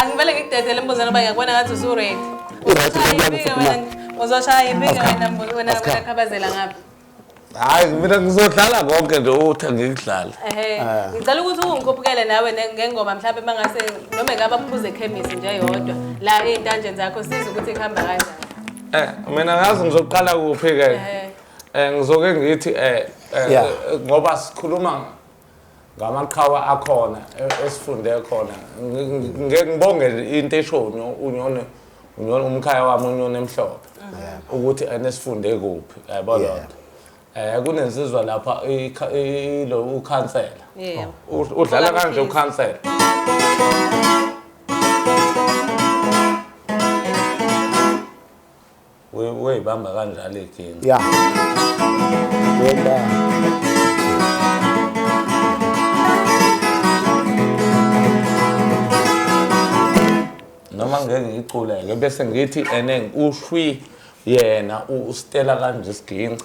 Angivele ngikudedele imbuzana uba ngiyakubona ngathi usuready. Right, Uzoshaya uzokuya ipinga kuphuma. wena- Uzoshaya ipinga Asikhambe. wena mbu- wena Asikhambe. wena khabazela ngapha. hayi mina ngizodlala konke nje uthi ngikudlale Ehhe. Ah. Ngicela ukuthi ungikhuphukele nawe ne- ngengoma mhlawumbe mangase noma ngaba kuphuze ekhemisi nje yodwa la ezintanjeni zakho siza ukuthi ihamba kanjani. Eh, mina ngazi ngizoqala kuphi-ke Ehhe. um ngizoke ngithi um Yeah. ngoba sikhuluma ngamaqhawe akhona e- esifunde khona Ngi- ngi- ngi- ngibonge into esho unyo- unyoni unyoni umkhaya wami unyoni emhlophe ukuthi ene sifunde kuphi yabo Yeah. lonto um kunensizwa lapha ikha- ilo ukhansela Yeah. U- udlala Ola kanje Mkhize. ukhansela uyibamba kanjalo iginci ya wenda noma ngeke ngiculeke bese ngithi ene ushwi yena ustela kanje isiginci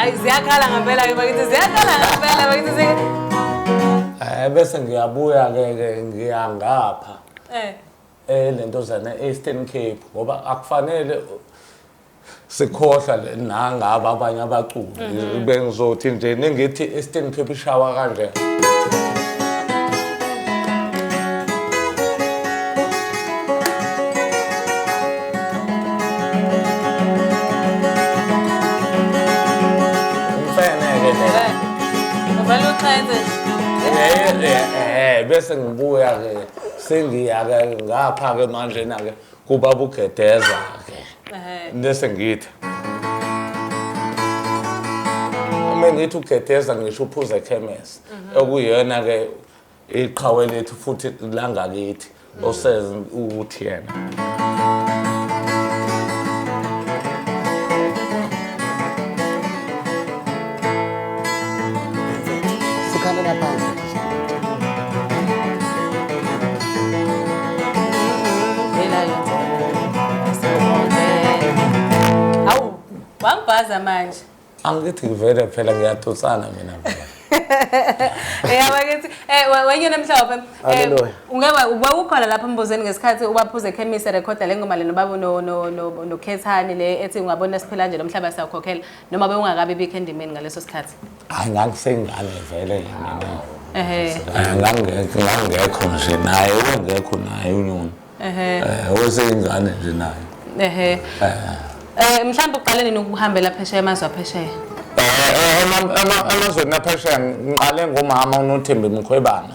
Ay ziyakhala ngempela ke bakithi ziyakhala ngempela bakithi zi Eh bese ngiyabuya ke ke ngiya ngapha Eh eh lentozana e-Eastern Cape ngoba akufanele sikhohlwa le nangaba abanye abaculi mhm. bengizothi nje ningithi eastern cape ishawa kanje bese ngibuya-ke sengiya-ke ngapha-ke manjena-ke Kubaba ugedeza ke. Ehhe. Nese ngithi. Uma ngithi ugedeza ngisho uphuza ekhemesi okuyona ke iqhawe lethu futhi langakithi oseze ukuthi yena. Sikhalela phansi. Awu, wangibhaza manje. Angithi ngivele phela ngiyatusana mina phela. Yeah, bakithi. Eh, we- wenye namhlophe. Eh, Hallelujah. ungeke ubawukhona lapha embuzweni ngesikhathi ubaphuze ekhemisi recorda le ngoma lena babu no no no nokhethani le ethi ungabona siphela nje lomhlaba siyakhokhela noma bewungakabi bikho endimeni ngaleso sikhathi. hayi ngangisengane vele mina ehe Eh, ngangekho ngangekho nje naye ubengekho naye unyoni ehe Eh, weseyingane nje naye ehe eh mhlawumbe uqale nini ukuhambela phesheya amazwe aphesheya Eh, eh, ema- ema- emazweni aphesheya ngiqale ngomama unothembi mkhwebana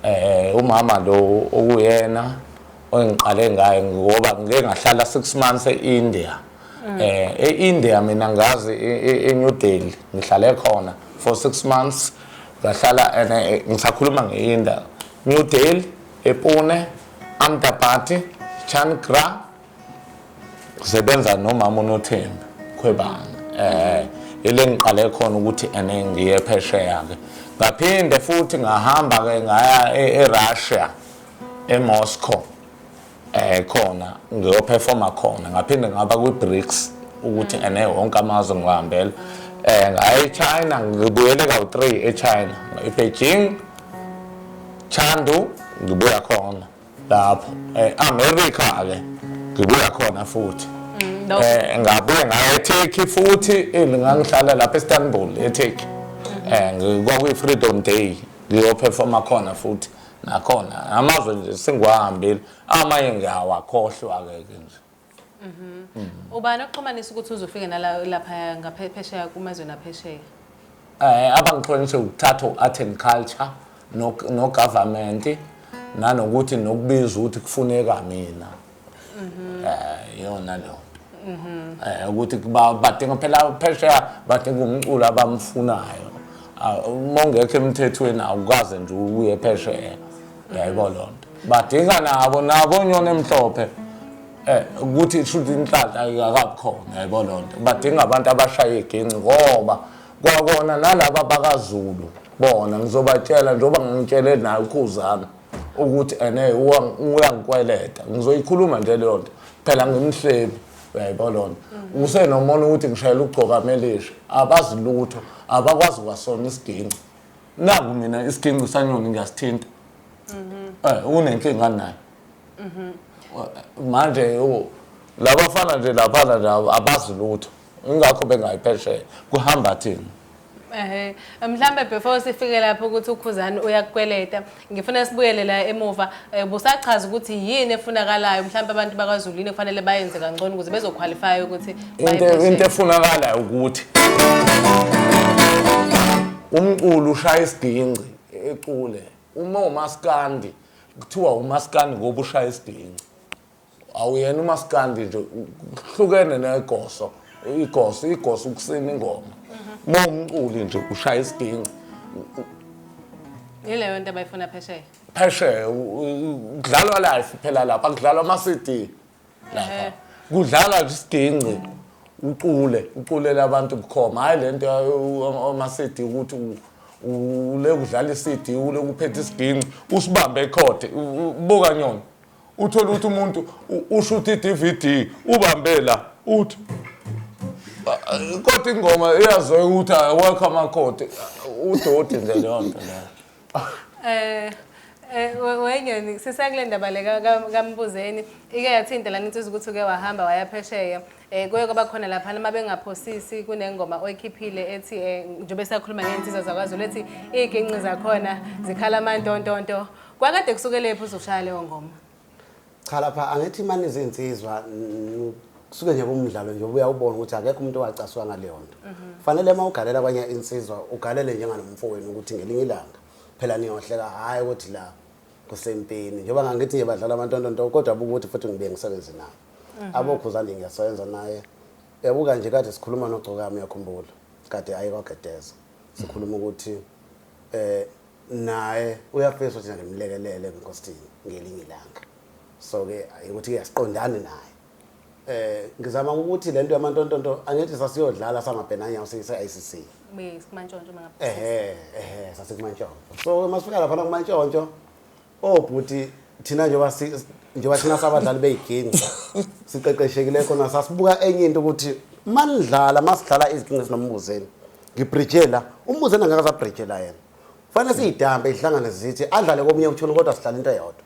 eh umama lo okuyena ongiqale ngaye ngoba ngike ngahlala 6 months e-india mm. eh e-India mina ngazi e-New e, e Delhi ngihlale khona for 6 months ngahlala and eh, ngisakhuluma ngeIndia New Delhi ePune Amdapati Chankra ngisebenza nomama uNothembi khwebana eh ile ngiqale khona ukuthi ene ngiye phesheya ke ngaphinde futhi ngahamba ke ngaya e-Russia e-Moscow eh khona ngiyoperforma khona ngaphinde ngaba kwi-bricks ukuthi ene wonke amazwe ngihambela eh ngaye China ngibuyele kawu-3 eChina iBeijing Chandu ngibuya khona lapho eh America ke ngibuya khona futhi mm, eh ngabuye ngaye eTurkey futhi ngangihlala lapha eIstanbul eTurkey mm-hmm. eh ngikwakuyi-freedom day ngiyoperforma khona futhi nakhona amazwe nje singwahambile amanye ngiyawakhohlwa-ke ke nje Mhm. Mm. ubani okuxhumanisa ukuthi uzofike nalapha ngaphesheya kumazweni aphesheya um eh, abangixhumanise ukuthatha u-art and culture nogovernment nanokuthi nokubiza ukuthi kufuneka mina Mhm. Eh yona leyo. Mhm. Eh ukuthi kuba badinga phela phesheya badinga umculo abamfunayo. Ah, Uma ungekho emthethweni awukaze nje uye phesheya. Yayiko lonto. Badinga nabo nabo nyona emhlophe. Eh ukuthi shuthi inhlanhla ayikakhona yayiko lonto. Badinga abantu abashaya igenci ngoba kwakona nalaba bakaZulu bona ngizobatshela njengoba ngitshele naye ukhuzana. ukuthi ene uyangikweleta ngizoyikhuluma nje leyo nto phela ngimhlebi uyayibona lona usenomona ukuthi ngishayela ukugcoka amelisha abazi lutho abakwazi kwasona isiginci naku mina isiginci sanyoni ngiyasithinta eh unenkinga naye manje labafana nje laphana nje abazi lutho ingakho bengayi phesheya kuhamba thina Ehhe mhlambe before sifike lapho ukuthi ukhuzani uyakukweleta ngifuna sibuyele la emuva eh, busachaza ukuthi yini efunakalayo mhlambe abantu bakwaZulu yini kufanele bayenze kangcono ukuze bezoqualify ukuthi baye into phesheya. into efunakalayo ukuthi umculo ushaya isigingci ecule uma umaskandi kuthiwa umaskandi ngoba ushaya isigingci awuyena umaskandi nje kuhlukene negoso igoso igoso ukusina ingoma uma umculi nje ushaya isiginci yileyo nto abayifuna phesheya phesheya kudlalwa life phela lapha kudlalwa ama-cd lapha kudlalwa nje isiginci ucule uculela abantu bukhoma hhayi le nto ama-cd ukuthi ule kudlala i-cd ule kuphetha isiginci usibambe ekhothe buka nyona uthole ukuthi umuntu ushutha i-dvd ubambe la uthi kodwa ingoma eyaziwayo ukuthi awekho amakhodi udoti nje leyo nto leyo um Eh, wengeni sisakule ndaba le kambuzeni ike yathinta lana insizwa ukuthi uke wahamba wayaphesheya um eh, kuye kwaba khona laphana uma bengaphosisi kunengoma oyikhiphile ethi um njengoba esakhuluma ngey'nsizwa zakwazulu ethi iy'ginqi zakhona zikhala amantontonto Kwakade kusukelephi uzoshaya leyo ngoma? Cha lapha angithi imani izinsizwa kusuke nje kumdlalo nje ubuya ubona ukuthi akekho umuntu owacaswa ngaleyo nto. Fanele uma ugalela kwanye insizwa ugalele njenganomfowenu ukuthi ngelinye ilanga phela niyohleka hhayi ukuthi la kusempini njengoba ngangithi nje badlala amantontonto kodwa buka ukuthi futhi ngibuye ngisebenze nawo mhm. abokhuzane ngiyasebenza naye yabuka nje kade sikhuluma nogcokami uyakhumbula kade aye kwagedeza sikhuluma ukuthi um naye uyafisa ukuthi ngimlekelele ebukhosini ngelinye ilanga so ke ukuthi ke asiqondani naye eh ngizama ukuthi lento yamantontonto angithi sasiyodlala samabhenanya usise ICC kumantshontsho mangapha ehe ehe sasekumantshontsho so masifika lapha kumantshontsho Oh bhuti thina njengoba si njengoba thina sabadlali beyiginga siqeqeshekile khona sasibuka enye into ukuthi manidlala masidlala iziginga sinombuzeni ngibridgela umbuzeni angeke asabridgela yena fanele siyidambe ihlangane zithi adlale komunye uthuni kodwa sidlala into eyodwa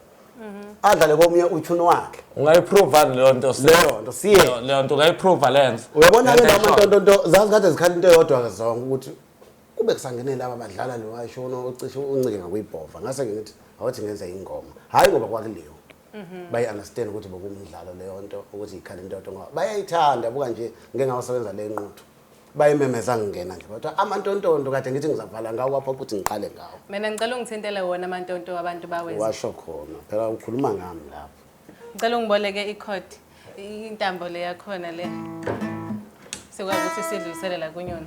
adlale komunye uthuni wakhe ungayiprova leyo nto si- Leyo nto, siye. leyo- leyo nto ungayiprova lenze uyabona ke Lento noma ayishoyo. ntontonto zazi kade zikhala into eyodwa ke zonke ukuthi kube kusangene laba badlala lo ayishono ocishe uncike ngakuyibhova ngase ke ngithi awuthi ngenza ingoma hayi ngoba kwakuliwa mhm. bayi understand ukuthi bokumdlalo leyo nto ukuthi ikhala intoto ngoba bayayithanda buka nje ngeke ngawasebenza le nquthu bayimemeza ngingena nje kodwa amantontonto kade ngithi ngizavala ngawo wapha ukuthi ngiqale ngawo mina ngicela ungithintele wona amantonto abantu bawenza washo khona phela ukhuluma ngami lapho ngicela ungiboleke ikhodi intambo le yakhona le sikwazi ukuthi sidlulisele la kunyona